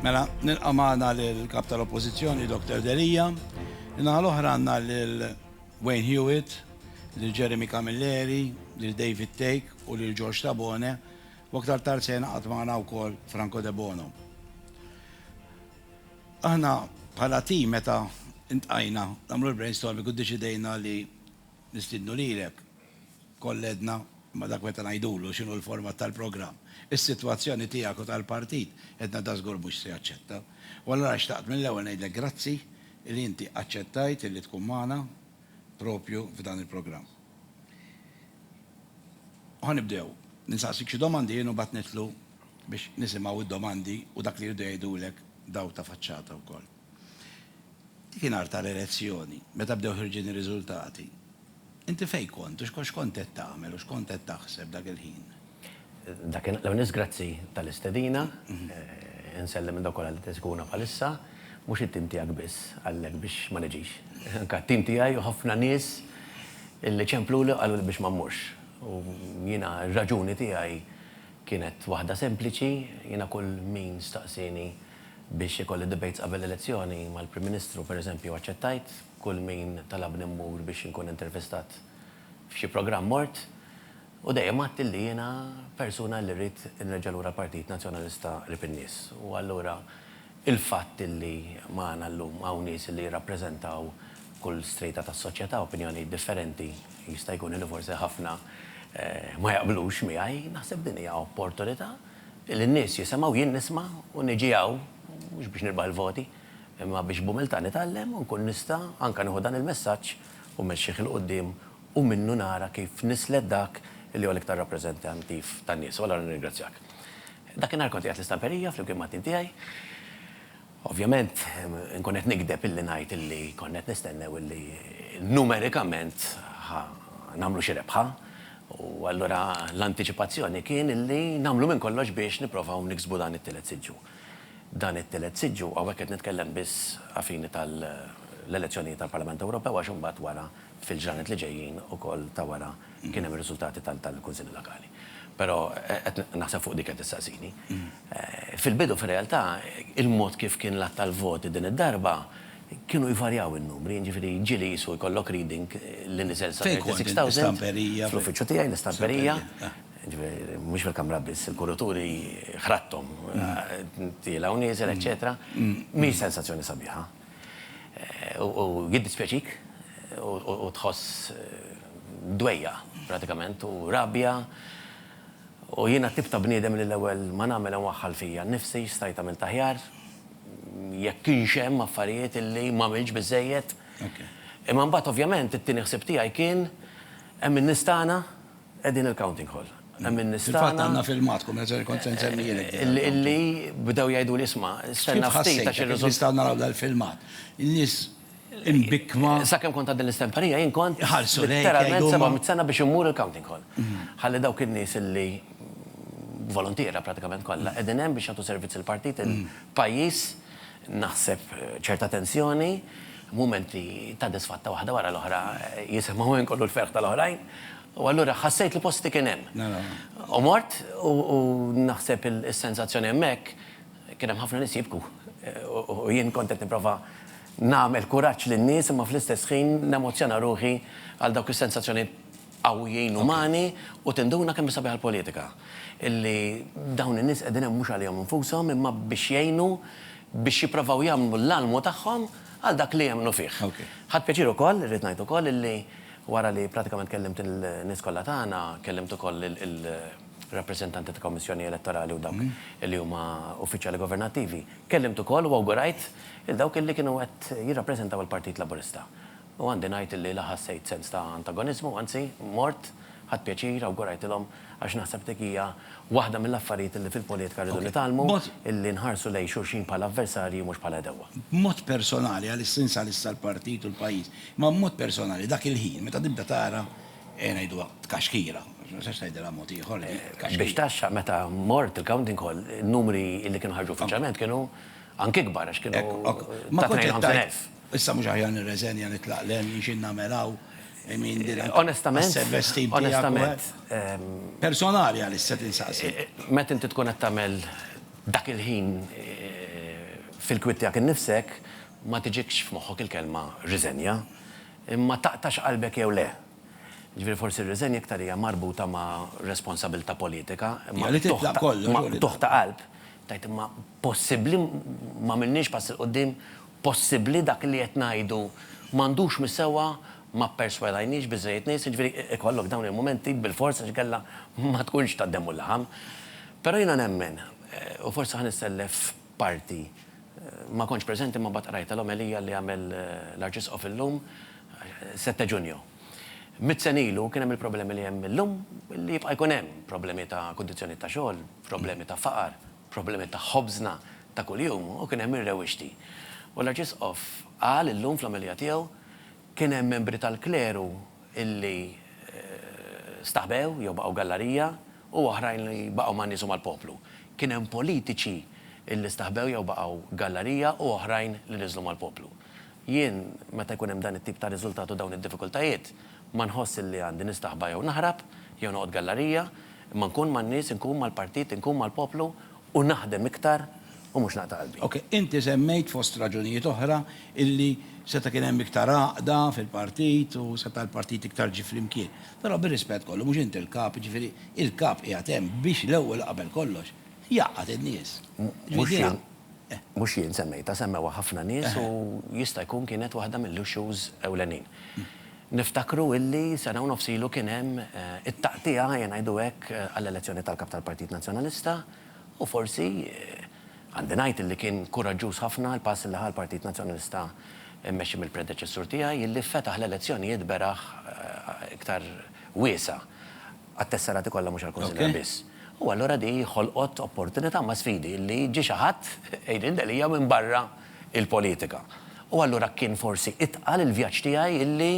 Mela, nilqa' magħna lill-Kap tal-Oppożizzjoni, Dr. Delia. Naħa l-oħra għandna lil Wayne Hewitt, lil Jeremy Camilleri, lil David Take u lil George Tabone, u aktar tard se jingħaqad magħna wkoll Franco Debono. Aħna bħala tim meta ntqajna nagħmlu l-brainstorming u ddeċidejna li Nistiednu lilek, kollhedna ma' dak meta ngħidulu x'inhu l-format tal-programm. Is-sitwazzjoni tiegħek u tal-partit edna da żgur mhux se jaċċetta. U allura xtaqt mill-ewwel ngħidlek grazzi li inti aċċettajt illi tkun magħna propju f'dan il-programm. Ħa nibdew. Insaqsik xi domandi jien u mbagħad nidħlu biex nisimgħu d-domandi u dak li jridu jgħidulek dawk ta' faċċata wkoll. Dik in-nhar tal-elezzjoni, meta bdew ħirġin ir-riżultati, inti fejn kont u x'kont qed tagħmel u x'kont qed taħseb dak il-ħin? Dak in-nhar, l-ewwel nett grazzi tal-istedina. Insellem lil dawk kollha li qed isegwuna bħalissa, mhux it-tim tiegħek biss għallek biex ma niġix, anke t-tim tiegħi u ħafna nies li ċempluli u qaluli biex ma mmurx. U jiena r-raġuni tiegħi kienet waħda sempliċi, jiena kull min staqsieni, biex ikolli debates qabel l-elezzjoni mal-Prim Ministru, per eżempju, aċċettajt kull min talabni mmur biex inkun intervistat f'xi programm mort u dejjem għedt illi jiena persuna li rrid inreġġa' lura l-Partit Nazzjonalista qrib in-nies u allura il-fatt illi magħna llum hawn nies illi jirrappreżentaw kull strata tas-soċjetà, opinjonijiet differenti, jista' jkun illi forsi ħafna ma jaqblux miegħi, naħseb din hija opportunità. Li n-nies jisemgħu, jien nisma' u niġi hawn mhux biex nirbaħ il-voti, imma biex b'umiltà nitgħallem u nkun nista' anke nieħu dan il-messaġġ u mmexxih 'il quddiem u minnu nara kif nislet dak li huwa l-iktar rappreżentantiv tan-nies. U allura nirringrazzjak. Dakinhar kont qiegħed l-istamperija flimkien mat-tim tiegħi. Ovvjament inkun qed nigdeb illi ngħid illi konna qed nistennew illi numerikament ħa nagħmlu xi rebħa u allura l-antiċipazzjoni kien illi nagħmlu minn kollox biex nipprovaw niksbu dan it-tielet siġġu. Dan it-tielet siġġu, hawnhekk qed nitkellem biss a fini tal-elezzjonijiet għall-Parlament Ewropew għax imbagħad wara fil-ġranet li ġejjin ukoll ta' wara kien hemm ir-riżultati tal-kunsilli lokali. Però qed naħseb fuq dik qed issaqsini. Fil-bidu fir-realtà il-mod kif kien l-għadd tal-voti din id-darba kienu jvarjaw in-numri, jiġifieri ġieli qisu jkollok reading li niżel sa 36,000 fl-uffiċċju tiegħi, l-istamperija, jiġifieri mhux fil-kamra biss, il-kurituri ħradthom tiela' u nieżel, eċċetera. Mhix sensazzjoni sabiħa. U jiddispjaċik u tħoss dwejjaq pratikament u rabja u jiena t-tip ta' bniedem li l-ewwel ma nagħmel inwaħħal fija nnifsi x'stajt għamilt aħjar, jekk kienx hemm affarijiet illi m'għamiltx biżżejjed. Imma mbagħad ovvjament it-tieni ħsieb tiegħi kien hemm in-nies tagħna Hi din il-counting hall. Hemm in-nies tagħna. Fil-fatt għandna filmat, Kummissarju, kont se nsemmihilek din. Illi bdew jgħiduli isma', stenna ftit għax ir-riżultati. Kif nistgħu naraw dal-filmat? In-nies imbikkma. Sakemm kont għad din l-istemperija jien kont. Iħarsu lejk. Literalment 700 sena biex immur il-counting hall. Ħalli dawk in-nies illi voluntiera pratikament kollha qegħdin hemm biex jagħtu servizz il-partit, il-pajjiż. Naħseb ċerta tensjoni, mumenti ta' disfatta waħda wara l-oħra jisimgħu hemm kollu l-ferħ tal-oħrajn, u allura ħassejt li posti kien hemm. U mort u naħseb is-sensazzjoni hemmhekk kien hemm ħafna nies jibku u jien kont qed nipprova nagħmel kuraġġ lin-nies imma fl-istess ħin nemozzjona ruħi għal dawk is-sensazzjonijiet. qawwijin, umani, u tinduna kemm hi sabiħa l-politika. Illi dawn in-nies qegħdin hemm mhux għalihom infushom imma biex jgħinu biex jipprovaw jagħmlu l-almu tagħhom għal dak li jemmnu fih. Ħadt pjaċir ukoll, irrid ngħid ukoll, illi wara li pratikament kellimt il-nies kollha tagħna, kellimt ukoll il-rappreżentanti ta' Kommissjoni Elettorali u dawk illi huma uffiċjali governattivi. Kellimt ukoll u awgurajt lil dawk illi kienu qed jirrappreżentaw il-Partit Laburista. u għandi ngħid li la ħassejt sens ta' antagoniżmu, anzi, mort, ħadt pjaċir, awgurajtilhom, għax naħseb dik hija waħda mill-affarijiet li fil-politika rridu nitgħallmu, illi nħarsu lejn xulxin bħala avversarji mhux bħala għedewwa. B'mod personali, għalissins għalissa l-partit u l-pajjiż, imma b'mod personali dak il-ħin meta tibda tara, ejja ngħiduha, tkaxkira, għax ma nistax ngħidilha mod ieħor di, tkaxkira. Biex taxxa, meta mort il-counting hall, in-numri illi kienu ħarġu uffiċjalment kienu anki ikbar, għax kienu ta' 52,000. Issa mhux aħjar nirreżenja nitlaq l għen xi nagħmel hawn I mean din anke għas-self-esteem tiegħek. Onestament. Personali għaliex se tinsaqsi. Meta inti tkun qed tagħmel dak il-ħin fil-kwiet tiegħek innifsek ma tiġikx f'moħħok il-kelma riżenja. Imma taqtax qalbek jew le. Jiġifieri forsi r-riżenja iktar hija marbuta ma' responsabilità politika. Imma li titlaq kollox. Imma qtugħ ta' qalb tgħid imma possibbli m'għamilniex pass 'il quddiem possibbli dak li qed ngħidu m'għandux mhi sewwa ma pperswadajniex biżżejjed nies, jiġifieri ikollok dawn il-mumenti bilfors għax inkella ma tkunx tad-demm u l-laħam. Però jiena nemmen, u forsi ħa nissellef parti, ma kontx preżenti imma mbagħad qrajtha l-omelija li għamel l-Arċisqof illum, sette Ġunju. Mitt sena ilu kien hemm il-problemi li hemm illum, li jibqa' jkun hemm, problemi ta' kundizzjonijiet ta' xogħol, problemi ta' faqar, problemi ta' ħobżna ta' kuljum u kien hemm ir-rewwixti. U l-Arċisqof qal illum fl-omelija tiegħu, Kien hemm membri tal-kleru li staħbew jew baqgħu gallarija u oħrajn li baqgħu man-nies u mal-poplu. Kien hemm politiċi li staħbew jew baqgħu gallarija u oħrajn li niżlu mal-poplu. Jien, meta jkun hemm dan it-tip ta' riżultat u dawn id-diffikultajiet, ma nħoss illi għandi nistaħba jew naħrab, jew noqgħod gallarija, imma nkun man-nies, inkun mal-partit, inkun mal-poplu u naħdem iktar u mhux naqta' qalbi. Ok, inti semmejt fost raġunijiet oħra illi seta' kien hemm iktar għaqda fil-partit u seta' l-partit iktar ġie flimkien. Però bir-rispett kollu, mhux inti l-Kap, jiġifieri l-Kap qiegħed hemm biex l-ewwel u qabel kollox Jgħaqqad in-nies. Mhux jien semmejtha, semmewha ħafna nies u jista' jkun kienet waħda mill-issues ewlenin. Niftakru illi sena u nofs ilu kien hemm it-taqtiegħa, ejja ngħidu hekk, għall-elezzjoni tal-Kap tal-Partit Nazzjonalista u forsi, għandi ngħid illi kien kuraġġuż ħafna l-pass illi ħa l-Partit Nazzjonalista mmexxi mill-predeċessur tiegħi illi fetaħ l-elezzjonijiet beraħ iktar wiesgħa. għat-tesserati kollha mhux għall-Kunsilliera biss. U allura din ħolqot opportunità ma' sfidi li ġie xi ħadd, Adrian Delia, minn barra l-politika. U allura kien forsi itqal il-vjaġġ tiegħi illi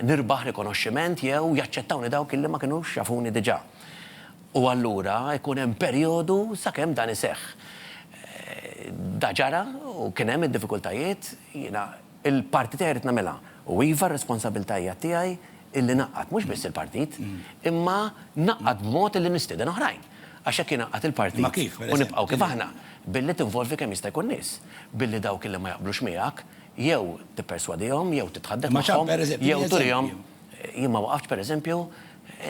nirbaħ rikonoxximent jew jaċċettawni dawk illi ma kinux jafuni diġà. U allura jkun hemm perjodu sakemm dan iseħħ. Da ġara u kien hemm id-diffikultajiet, jiena. Il-parti tiegħi rrid nagħmilha u iva r-responsabilità hija tiegħi illi ngħaqqad mhux biss il-partit imma ngħaqqad b'mod illi nistieden oħrajn. Għax jekk jien ingħaqqad il-partit u nibqgħu kif aħna billi tinvolvi kemm jista' jkun nies, billi dawk illi ma jaqblux miegħek jew tipperswadihom jew titħadded magħhom jew turihom Jien ma waqaftx pereżempju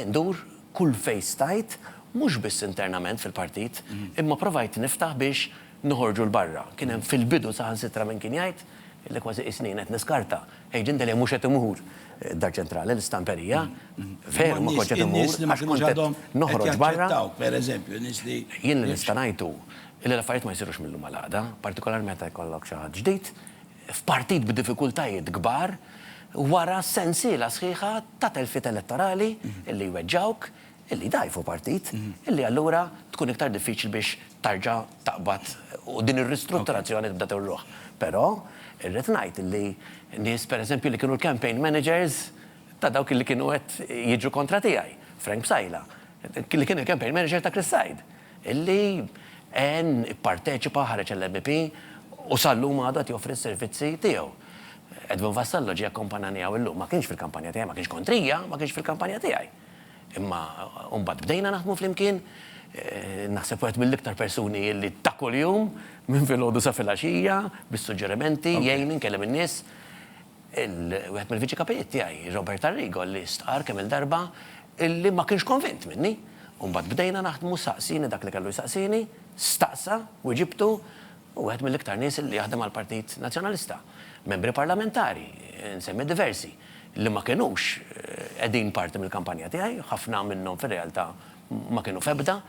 ndur kull fejn stajt mhux biss internament fil-partit imma provajt niftaħ biex noħorġu 'l barra. Kien hemm fil-bidu saħansitra min kien jgħid Illi kważi qisni jien qed niskarta. Għidli inti li mhux qed immur d-Dar Ċentrali, l-istamperija. Veru ma kontx qed immur għax kont qed noħroġ barra. Jien li nista' ngħid hu illi l-affarijiet ma jsirux mil-lum għal għada, partikolarment meta jkollok xi ħadd ġdid, f'partit b'diffikultajiet kbar, wara sensiela sħiħa ta' telfiet elettorali illi jweġġgħuk, illi jdgħajfu partit, illi allura tkun iktar diffiċli biex tarġa' taqbad u din ir-ristrutturazzjoni tibda tirruħ. Però irrid ngħid li nies pereżempju li kienu l-campaign managers ta' dawk li kienu qed jiġru kontra tiegħi, Frank Psaila, li kien il-campaign manager ta' Chris Said, illi għen, ipparteċipa, ħareġ għall-MEP u sal-lum għadu qed joffri s-servizzi tiegħu. Edwin Vassallo ġie akkompanjani hawn illum. Ma kienx fil-kampanja tiegħi, ma kienx kontrija, ma kienx fil-kampanja tiegħi. Imma mbagħad bdejna naħdmu flimkien, naħseb wieħed mill-iktar persuni li ta' kuljum, minn filgħodu sa filgħaxija, bis-suġġerimenti, jgħinni nkellem in-nies. Wieħed mill-Viċi Kapijiet tiegħi, Robert Arrigo, li stqarr kemm-il darba li ma kienx konvint minni. U mbagħad bdejna naħdmu, saqsieni dak li kellu jsaqsieni, staqsa, wiġibtu. Hu wieħed mill-iktar nies li jaħdem għall-Partit Nazzjonalista. Membri Parlamentari, insemmi diversi, li ma kinux qegħdin parti mill-kampanja tiegħi, ħafna minnhom fir-realtà ma kienu f'ebda,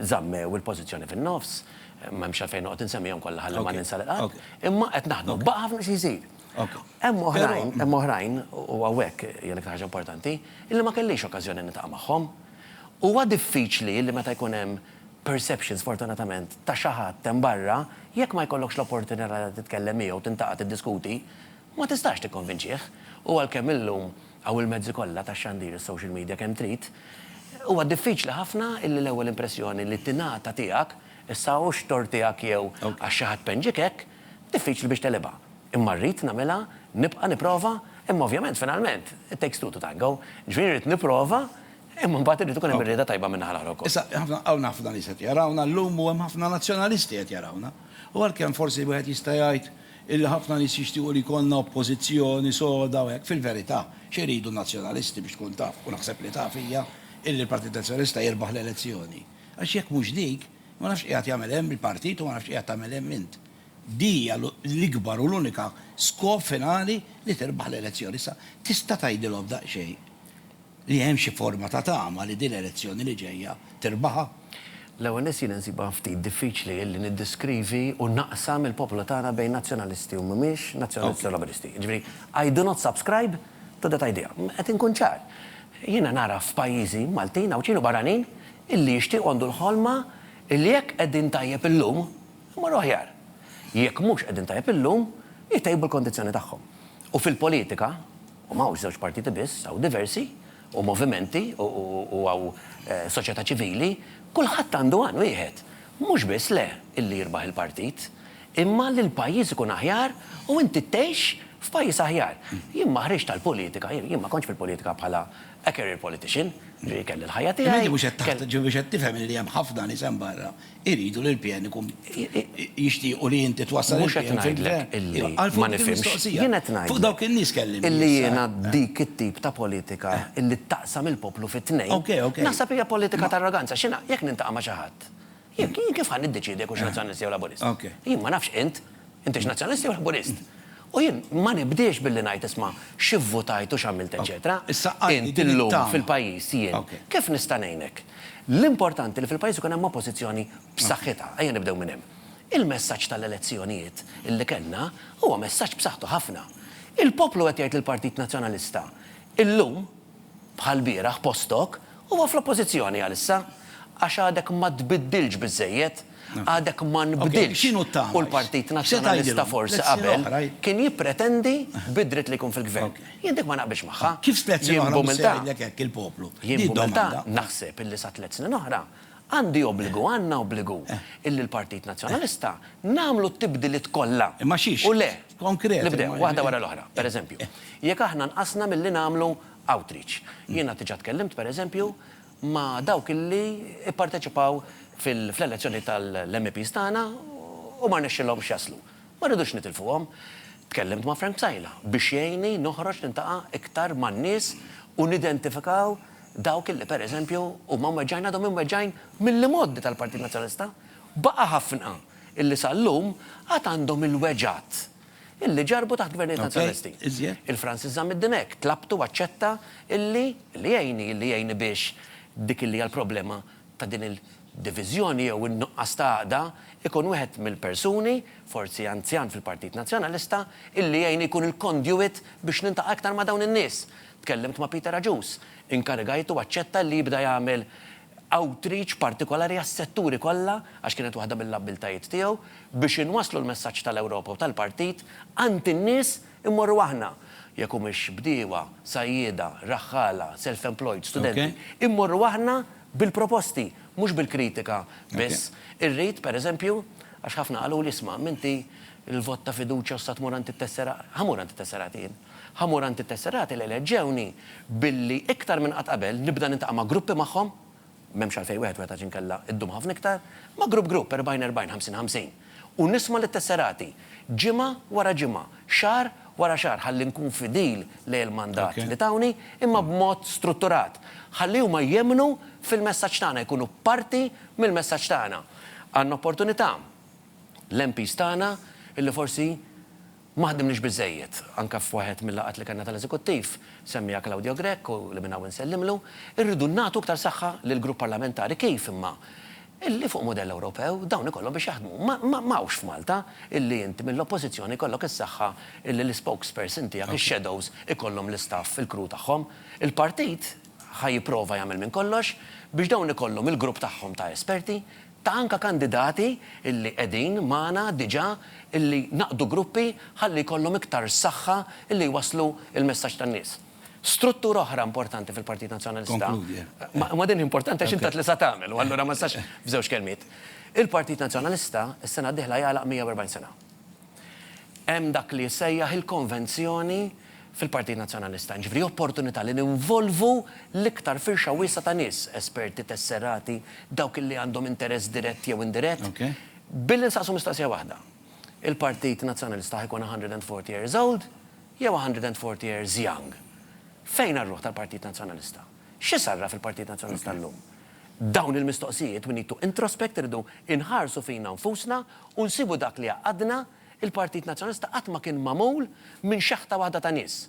żammew il-pożizzjoni fin-nofs, m'hemmx għalfejn noqgħod insemmihom kollha ħalli ma ninsa lil ħadd, imma qed naħdmu. Baqa' ħafna xi jsir. Hemm oħrajn, hemm oħrajn, u hawnhekk hija l-iktar ħaġa importanti, illi ma kellix okkażjoni niltaqa' magħhom. Huwa diffiċli li meta jkun hemm perception, sfortunatament, ta' xi ħadd hemm barra, jekk ma jkollokx l-opportunità li titkellem miegħu, tintaqa' tiddiskuti, ma tistax tikkonvinċih. U għalkemm illum hawn il-mezzi kollha tax-xandir, is-social media kemm trid, huwa diffiċli ħafna illi l-ewwel impressjoni li tingħata tiegħek, issa hu x-tort tiegħek jew għax xi ħadd penġiek hekk, diffiċli biex teghilibha. Imma rrid nagħmilha, nibqa' nipprova, imma ovvjament finalment, it takes two to tango, jiġifieri rrid nipprova, Imma mbagħad irid ikun hemm ir-rieda tajba min-naħa l-oħra wkoll. Issa, ħafna, hawn ħafna nies qed jarawna llum u hemm ħafna nazzjonalisti qed jarawna. U għalkemm forsi wieħed jista' jgħid illi ħafna nies jixtiequ li jkollna oppożizzjoni soda u hekk, fil-verità, x'iridu n-nazzjonalisti biex tkun taf, u naħseb li taf, hija illi l-Partit Nazzjonalista jirbaħ l-elezzjoni. Għax jekk mhux dik, ma nafx x'qiegħed jagħmel hemm il-partit u ma nafx x'qiegħed tagħmel hemm int. Di hija l-ikbar u l-unika skop finali li tirbaħ l-elezzjoni. Issa, tista' tgħidilhom daqsxejn? li hemm xi forma ta' tama li din l-elezzjoni li ġejja tirbaħha? L-ewwel nett jiena nsibha ftit diffiċli li niddiskrivi u naqsam il-poplu tagħna bejn Nazzjonalisti u mhumiex Nazzjonalisti u Laburisti. Jiġifieri, I do not subscribe to that idea. Qed inkun ċar. Jiena nara f'pajjiżi, Maltin, Għawdxin u barranin, illi jixtiequ għandu l-ħolma illi jekk qegħdin tajjeb illum, imorru aħjar. Jekk mhux qegħdin tajjeb illum, itejbu l-kondizzjoni tagħhom. U fil-politika, U ma hawnx żewġ partiti biss, hawn diversi, u movimenti, u hawn soċjetà ċivili, kulħadd għandu għan wieħed, mhux biss le illi jirbaħ il-partit, imma li l-pajjiż ikun aħjar u inti tgħix f'pajjiż aħjar. Jien ma ħriġt għall-politika, jien ma kontx fil-politika bħala a career politician, ġifieri kelli l-ħajja tiegħi. Imma inti mhux qed tifhem illi hemm ħafna nies hemm barra Iridu li l-PN ikun, jixtiequ li inti twassal il-PN fil-Gvern. Mhux qed ngħidlek illi ma nifhimx. Jien qed ngħidlek. Fuq dawk in-nies kellimni issa. Illi jiena dik it-tip ta' politika illi ttaqsam il-poplu fi tnejn, naħseb hija politika ta' arroganza. X'inha? Jekk niltaqa' ma' xi ħadd, jien kif ħa niddeċiedi jekk hux Nazzjonalist jew Laburist? Jien ma nafx int. Intix Nazzjonalist jew Laburist? U jien ma nibdiex billi ngħid isma' x'ivvutajt u x'għamilt eċċetera. Int illum fil-pajjiż jien kif nista' ngħinek? L-importanti li fil-pajjiż ikun hemm oppożizzjoni b'saħħitha, ejja nibdew minn hemm. Il-messaġġ tal-elezzjonijiet li kellna huwa messaġġ b'saħħtu ħafna. Il-poplu qed jgħid lill-Partit Nazzjonalista illum, bħall-bieraħ postok, huwa fl-Oppożizzjoni għalissa, għax għadek ma tbiddiltx biżżejjed, għadek ma nbdiltx u l-Partit Nazzjonalista forsi qabel kien jippretendi bid-dritt li jkun fil-Gvern. Jien dik ma naqbilx magħha. Jien b'umiltà naħseb illi sa tliet snin oħra Għandi obbligu, għandna obbligu, illi l-Partit Nazzjonalista nagħmlu t-tibdiliet kollha u le nibdew waħda wara l-oħra. Per eżempju, jekk aħna nqasna milli nagħmlu outreach. Jiena diġà tkellimt, per eżempju, ma' dawk illi pparteċipaw fl-elezzjoni tal-MEPs tagħna u ma rnexxilhomx jaslu. Ma rridux nitilfuhom. Tkellimt ma' Frank Psaila biex jgħinni noħroġ niltaqa' iktar man-nies u nidentifikaw Dawk illi, per eżempju, huma mweġġgħin għadhom imweġġgħin mill-imgħoddi tal-Partit Nazzjonalista. Baqa' ħafna illi sal-lum għad għandhom il-weġgħat illi ġarrbu taħt Gvernijiet Nazzjonalisti. Il-Francis Zammit-Din hekk tlabtu u aċċetta illi, illi jgħinni, illi jgħinni biex dik illi hija l-problema ta' din il-diviżjoni jew in-nuqqas ta' għaqda ikun wieħed mill-persuni, forsi anzjan fil-Partit Nazzjonalista, illi jgħinni jkun il-conduit biex nintaqa' iktar ma' dawn in-nies. Tkellimt ma' Peter Agius, inkarigajtu aċċetta li jibda jagħmel outreach partikolari għas-setturi kollha, għax kienet waħda mill-abbiltajiet tiegħu, biex inwasslu l-messaġġ tal-Ewropa u tal-Partit għand in-nies immorru aħna, jekk humiex bdiewa, sajjieda, raħħala, self-employed, studenti, immorru aħna bil-proposti, mhux bil-kritika biss. Irrid, per eżempju, għax ħafna qaluli, isma', m'inti l-vot ta' fiduċja u issa tmur għand it-tesserati. Ħa mmur għand it-tesserati jien. Ħamur għand it-Tesserati li eleġġewni billi iktar minn qatt qabel nibda niltaqa' ma' gruppi magħhom, m'hemmx għalfejn wieħed wieħed għax inkella ddum ħafna iktar, ma' grupp grupp, erbgħin erbgħin, ħamsin ħamsin, u nisma' lit-Tesserati, ġimgħa wara ġimgħa, xahar wara xahar ħalli nkun fidil lejn il-mandat li tawni, imma b'mod strutturat, ħalli huma jemmnu fil-messaġġ tagħna, jkunu parti mill-messaġġ tagħna. Għandna opportunità, l-MPs tagħna, illi forsi, Ma ħdimniex biżżejjed. Anke f'waħed mil-laqgħat li kellna tal-Eżekuttiv, semmiha Claudio Grech u li minn hawn insellimlu, irridu nagħtu iktar saħħa lill-Grupp Parlamentari. Kif imma? Illi fuq mudell Ewropew dawn ikollhom biex jaħdmu. Ma hawnx f'Malta illi int mill-Oppożizzjoni jkollok is-saħħa illi l-ispokesperson tiegħek, ix-shadows ikollhom l-istaff fil-crew tagħhom. Il-Partit ħa jipprova jagħmel minn kollox biex dawn ikollhom il-grupp tagħhom ta' esperti. Ta' anka kandidati illi qegħdin magħna diġa illi naqdu gruppi ħalli jkollhom iktar saħħa illi jwasslu il-messaġġ tan-nies. Struttura oħra importanti fil-Partit Nazzjonalista, ma din hi importanti għax int għedt li sa tagħmel u allura ma nistax f'żewġ kelmiet. Il-Partit Nazzjonalista s-sena d-dieħla jagħlaq 140 sena. Hemm dak li jissejjaħ il-konvenzjoni fil-Partit Nazzjonalista, jiġifieri opportunità li ninvolvu l-iktar firxa wiesgħa ta' nies, esperti, tesserati, dawk li għandhom interess dirett jew indirett, billi nsaqsu mistoqsija waħda, il-Partit Nazzjonalista ħa jkun 140 years old jew 140 years young? Fejn għar-ruħ tal-Partit Nazzjonalista? X'isarraf il-Partit Nazzjonalista llum? Dawn il-mistoqsijiet we need to introspect irridu inħarsu fina nfusna u nsibu dak li jgħaqqadna, il-Partit Nazzjonalista qatt ma kien magħmul minn xaħta waħda ta' nies.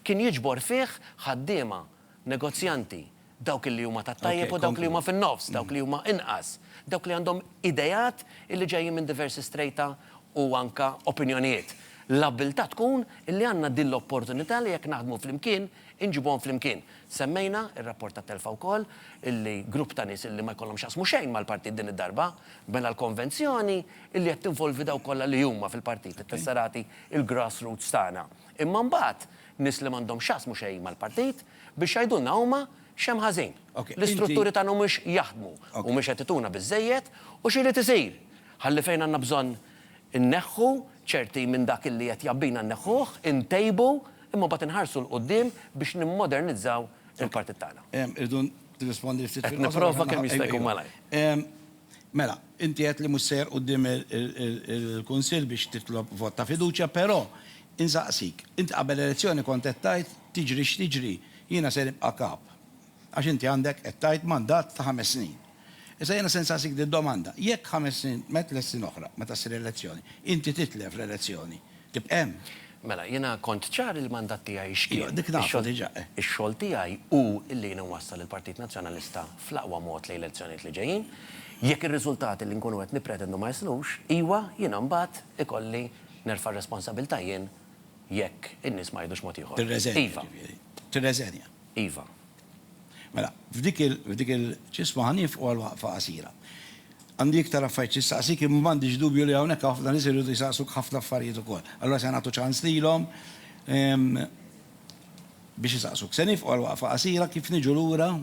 Kien jiġbor fih ħaddiema, negozjanti, dawk li huma tat-tajjeb u dawk li huma fin-nofs, dawk li huma inqas, dawk li għandhom ideat li ġejjin minn diversi strejta u anke opinjonijiet. L-abbiltà tkun li għandna din l-opportunità li jekk naħdmu flimkien inġibuhom flimkien. Semmejna r-rapport tat-telfa wkoll, illi grupp ta' nies illi ma jkollhom x'jaqsmu xejn mal-partit din id-darba, bena l-konvenzjoni illi qed tinvolvi dawk kollha li huma fil-partit, it-tesserati, il-grass roots tagħna. Imma mbagħad nies li m'għandhom x'jaqsmu xejn mal-partit biex jgħidulna huma x'hemm ħażin. L-istrutturi tagħna mhumiex jaħdmu, mhumiex qed ituna biżżejjed u x'irid isir ħalli fejn għandna bżonn Inneħħu ċerti minn dak illi qed jgħabbina nneħħuh, intejbu, imma mbagħad inħarsu 'l quddiem biex nimmodernizzaw il-partit tagħna. Irridu nirrispondi ftit fil-qosor. Qed nipprova kemm jista' jkun malajr. Mela, inti għedt li mhux sejjer quddiem il-Kunsill biex titlob vot ta' fiduċja, però insaqsik, int qabel l-elezzjoni kont qed tgħid tiġri x'tiġri jiena se nibqa' Kap. Għax inti għandek, qed tgħid, mandat ta' ħames snin. Issa jiena se nsaqsik din domanda, jekk ħames snin met l-snin oħra, meta ssir elezzjoni, inti titlef l-elezzjoni, tibqa' hemm? Mela, jiena kont ċar li l-mandat tiegħi x'kien. Iva, dik nafu diġà, eh. Ix-xogħol tiegħi hu li jien inwassal il-Partit Nazzjonalista fl-aqwa mod lejn l-elezzjonijiet li ġejjin. Jekk ir-riżultati li nkunu qed nippretendu ma jislux, iwa, jiena mbagħad ikolli nerfa' r-responsabilità jien jekk in-nies ma jgħidux mod ieħor. Tirreżenja, jiġifieri. Tirreżenja. Iva. Mela, f'dik il-ġisma ħa nieqfu għal waqfa qasira. Għandi iktar affarijiet xi nsaqsik imma m'għandix dubju li hawnhekk hawn ħafna nies iridu jsaqsuk ħafna affarijiet ukoll. Allura se nagħtu ċans lilhom biex isaqsuk. Se nieqfu għal waqfa qasira kif niġu lura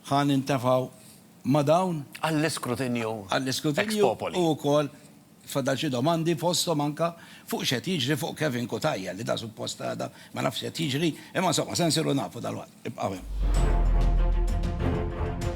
ħa nintefgħu ma' dawn. Għall-iskrutinju ex popoli. Fadal xi domandi fosthom anke fuq x'qed jiġri fuq Kevin Cutajar li da suppost għada ma nafx x'qed jiġri imma insomma se nsiru nafu dalwaqt. Ibqgħu hemm.